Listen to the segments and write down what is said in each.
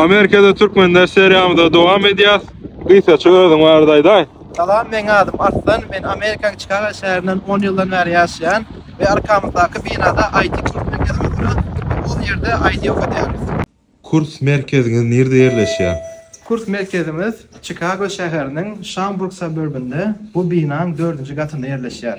Amerikada Türkmenler seriýamyza dowam edýäs. Gysgaça özüň barada aýdaý. Salam, meň adym Arslan, men Amerikanyň Çikago şäherinden on ýyldan bäri ýaşaýan we arkamyzdaky binada IT kurs merkezimiz duran we ol ýerde IT okadýarys. Kurs merkeziňiz nirde ýerleşýär? Kurs merkezimiz Çikago şäheriniň Şamburg suburbynda, bu binaň dördünji gatynda ýerleşýär.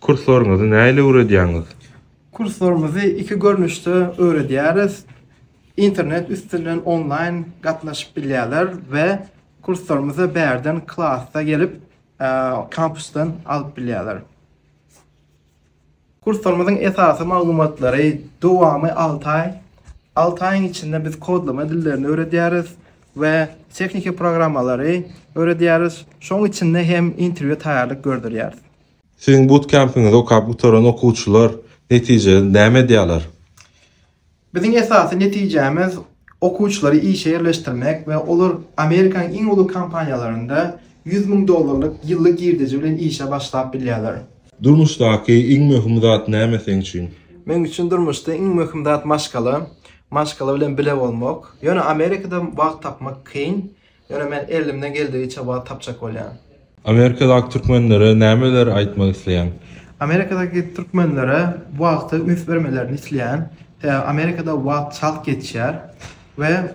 Kurslaryňyzy nähili öwredýäňiz? Kurslaryňyzy iki görnüşde öwredýäris. Internet üstünden onlaýn gatnaşyp bilýärler we kurslarymyzy bärden klasda gelip kampusdan alyp bilýärler. Kurslarymyzyň esasy maglumatlary dowamy alty aý. Alty aýyň içinde biz kodlama dillerini öwredýäris. we tehniki programmalary öwredýäris, şonuň içinde hem interwýua taýýarlyk gördürýäris. Siziň butkempiňizi okap gutaran okuwçylar netijede näme edýärler? Biziň esasy netijämiz okuwçylary işe ýerleşdirmek we olar Amerikanyň iň uly kompaniýalarynda ýüz müň dollarlyk ýyllyk girdeji bilen işe başlap bilýärler. Durmuşdaky iň möhüm zat näme seň üçin? Meň üçin durmuşda iň möhüm zat maşgala. Maşgala bilen bile bolmak. Ýöne Amerikada wagt tapmak kyn. Ýöne men elimden geldigiçe wagt tapjak bolýan. Amerikadaky türkmenlere nämeleri aýtmak isleýäň? Amerikadaky türkmenlere wagta üns bermelerini isleýän. Sebäbi Amerikada wagt çalt geçýär we